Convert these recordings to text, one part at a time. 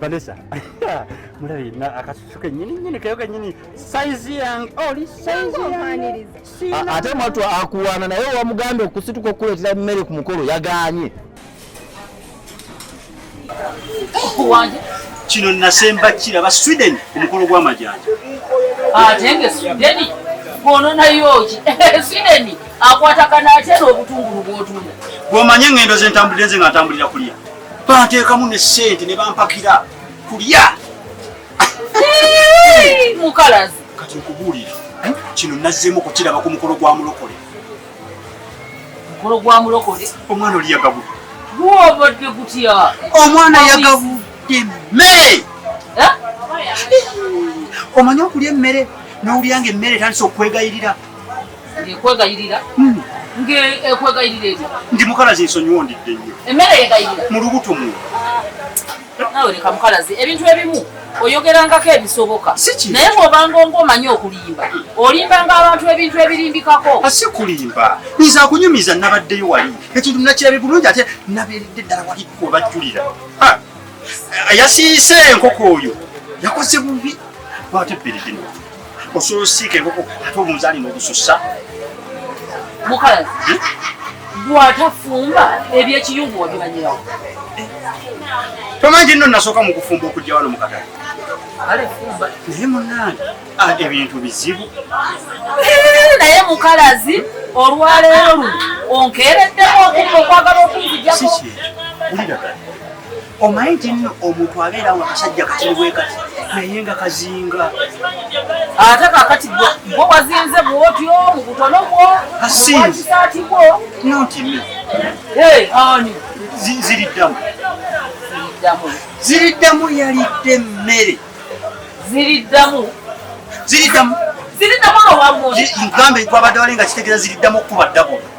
vanessa mulabi akasusu kenyininyini keyo kenyini saizi yange oli ate mwatu akuwaana naye wamugambye okusituka okukuleetera emmere ku mukolo yaganye kino nasemba kiraba sweden omukolo gw'amajanja ate nga sweden gwononayoki sweden akwatagana atya n'obutungulu bwotunda bwomanye engendo zentambulire nze nga ntambulira kulya banteekamu ne ssente ne bampakira kulya mukalazi kati nkubuulira eh, kino nazzeemu kukiraba ku mukolo gwa mulokole mukolo gwa mulokole omwana oli yagabu gwobadde gutya omwana yagabudde mmere eh? omanyi okulya emmere n'olyanga emmere etandisa okwegayirira ekwegayirira hmm. ngekwegayirira etya ndi mukalazi nsonyiwa ondidde nnyo emmere yegayirira mu lubuto mu nawe leka mukalazi ebintu ebimu oyogerangako ebisoboka naye bwobanga onga omanyi okulimba olimbanga abantu ebintu ebirimbikako asi ah, kulimba nyiza kunyumiza nabaddeyo wali ekintu nakirabe bulungi ate nabeeredde ddala wali webajjulira ah, yasiise enkoko oyo yakoze bubi batebbere gino osobola osiika enkoko ate omunzaani n'ogusussa mukazi gwatafumba ebyekiyungu wabimanyirawo tomanyi nno nasooka mu kufumba okujja wano mu katale naye munange ah, ebintu bizibu naye mukalazi olwaleero luno onkeereddeko okwagala okunzijako omanyi nti nno omuntu abeera nga kasajja katini bwe kati naye nga kazinga ate kakati gwe wazinze bwotyo mu butono bwo kasinziati bwo notimi ani ziriddamu ziriddamu yalidde emmere ziriddamu ziriddamu ziriddamu nowagambe twabadde wali nga kitegeeza ziriddamu okukuba ddabulo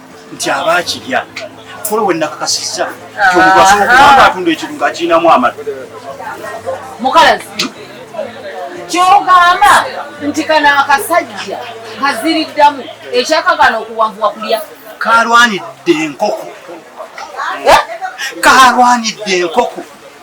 nti aba akirya kolo we nakakasizza kyomugasobola kubanga atunda ekintu nga akirinamu amatu mukalazi kyogamba nti kano akasajja kaziriddamu ekyakagana okuwanvuwa kulya kalwanidde enkoko eh? kalwanidde enkoko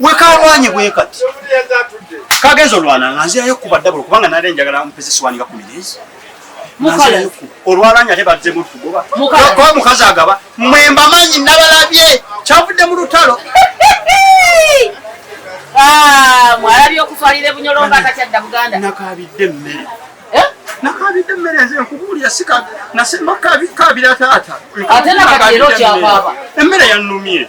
wekalwanye bwe kati kagenza olwana nga nzirayo kuba ddabula kubanga nali njagala mpeze siwani nga kumireezi olwalanya ate badze mutugoba kuba mukazi agaba mwe mbamanyi nabalabye kyavudde mu lutalo ah, mwalabye okutwalira ebunyolonga atakyadda buganda nakabidde emmere eh? nakabidde emmere nze nkubuulira sika nasemba kabira taata ate nakati era okyakaaba emmere yannumye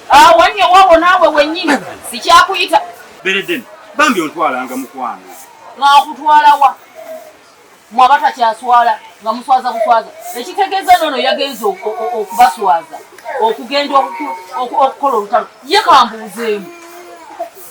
Awo nnyo wabo naawe wennyini sikyakuyita. Beredeni, bambi ontwalanga mukwano. Ng'akutwala wa? Mwe abatakyaswala nga muswaza buswaza. Ekitegeeza noono yagenze okubaswaza okugenda okukola olutalo. Ye kambuuzeemu.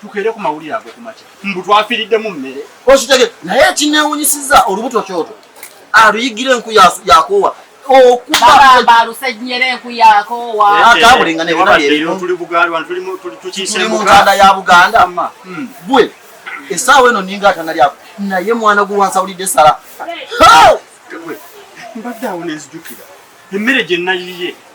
tukere ku mawulire ago kumakya mbu twafiridde mu mmere ositege naye ekinewunyisiza olubuto kyoto aluyigire enku yakoowa okubalusenyera enku yakoowa eh, atabulinga nebinatuli mu ntanda ya buganda hmm. bwe esaawa eno ninga atana lyako naye mwana gwe wansawulidde sala mbadde awo nenzijukira emmere gye nayiye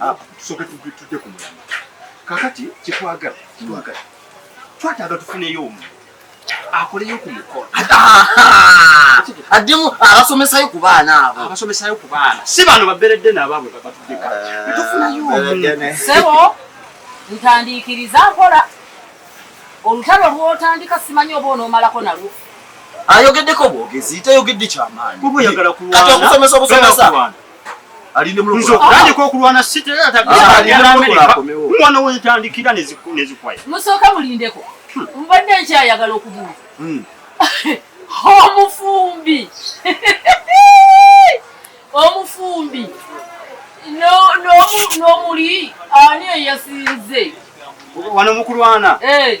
Ah, tusoke tujje ku mulamba kakati kyetwagala twagala twataaga tufuneyo omu akoleyo ku mukolo addemu abasomesayo ku baana abo abasomesayo ku baana si bano baberedde nabaabwe babatuddeka ah, tufunayo sebo ntandiikiriza nkola olutalo lwotandika simanyi oba onoomalako nalwo ayogeddeko bwogezi tayogedde kyamaanyi kati okusomesa obusomesa okulwana sitmwana wentandikira nezikwaya musooka mulindeko hmm. mbadde nkyayagala okubuuza hmm. omufumbi omufumbi n'omuli ani eyasinze wano mukulwana eh.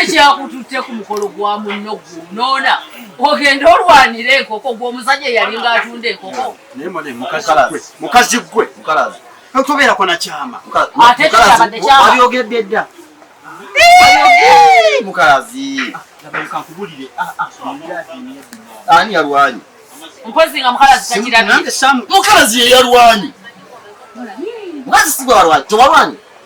ekyakututte ku mukolo gwa munno gunoona ogenda olwanira enkoko gwomusajja eyalinga atunda enkoko mukazi gwe tobeerako nakyama ate kyabadde kyamabyogedde dda mukalazi ani yalwanyi mpozi nga mukalazi takirabye mukalazi yeyalwanyi mukazi sigwalwanyi tewalwanyi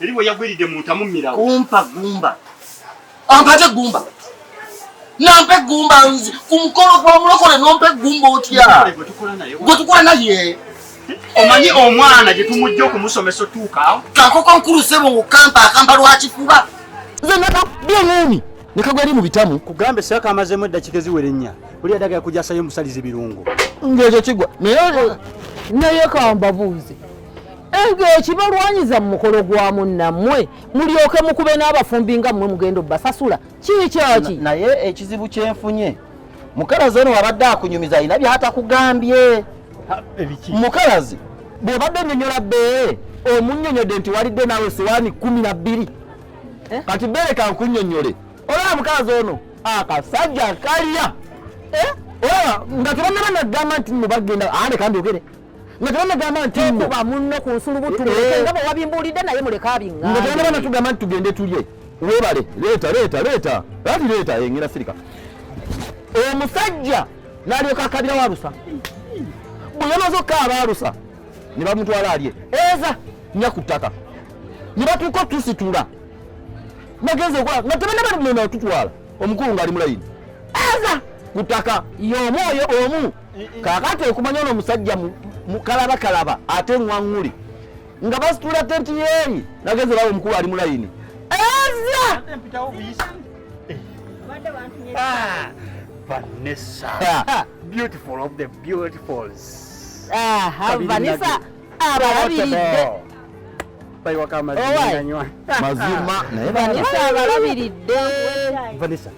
Eri bwe yagwiridde mu ntamu mmirawo. Kumpa gumba. Ampate gumba. Nampe gumba nzi ku mukolo gwa mulokole nompe gumba otya. Gwe tukola naye. Omanyi omwana gye tumujja okumusomesa otuuka awo. Kakoko nkulu sebo mu kampa akamba lwakifuba. Nze naka byomuumi. Nekagwa eri mu bitamu. Kugambe saka amazemu eddakika eziwere nnya. Buli adaga yakujasayo omusalize birungo. Ng'ekyo kigwa. Naye naye kambabuuze. ego ekibalwanyiza mu mukolo gwa munnammwe mulyoke mukube n'abafumbi nga mmwe mugenda obbasasula kiikyaki naye ekizibu kyenfunye mukalazi ono wabadde akunyumiza alina byatakugambye mukalazi bwebadde onyonyola bee omunyonyodde nti walidde naawe siwaani kumi na bbiri eh? kati beereka nkunyonyole olaba mukalazi ono akasajja kalya eh? olaba nga tebanaba nagamba nti mubagenda ande kandi ogere nga tebanagamba ntikuba munno ku nsulubutu eh, eh. nga bwewabimbuulidde naye muleka abinga nga tebanabana tugamba nti tugende tulye webale leeta leeta leeta ati leeta engera sirika omusajja nalyoka akabira walusa bwe yamaze okukaaba alusa ne bamutwala alye eza nya ku ttaka ne batuuka otusitula nagenze okola nga tebanabana tutwala omukulu ng'ali mulayini eza ku ttaka y'omu oyo omu kakati okumanya ono omusajja mukalaba kalaba ate ngwanguli nga basitula tenti yeeri nageze bawo omukulu ali mulayini eza vanessa abalabiridde mazima naye vanessa abalabiridde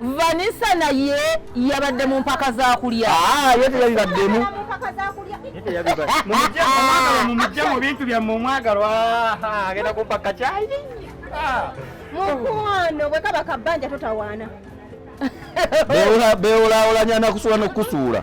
vanisa naye yabadde mu mpaka za kulya ah, ye teyabibaddemu mumujje mu bintu byammwe omwagalwa ah, agenda kumpaka kyayi ah. mukwano bwe kaba kabbanja totawaana bewulaawulanya nakusuula nokukusuula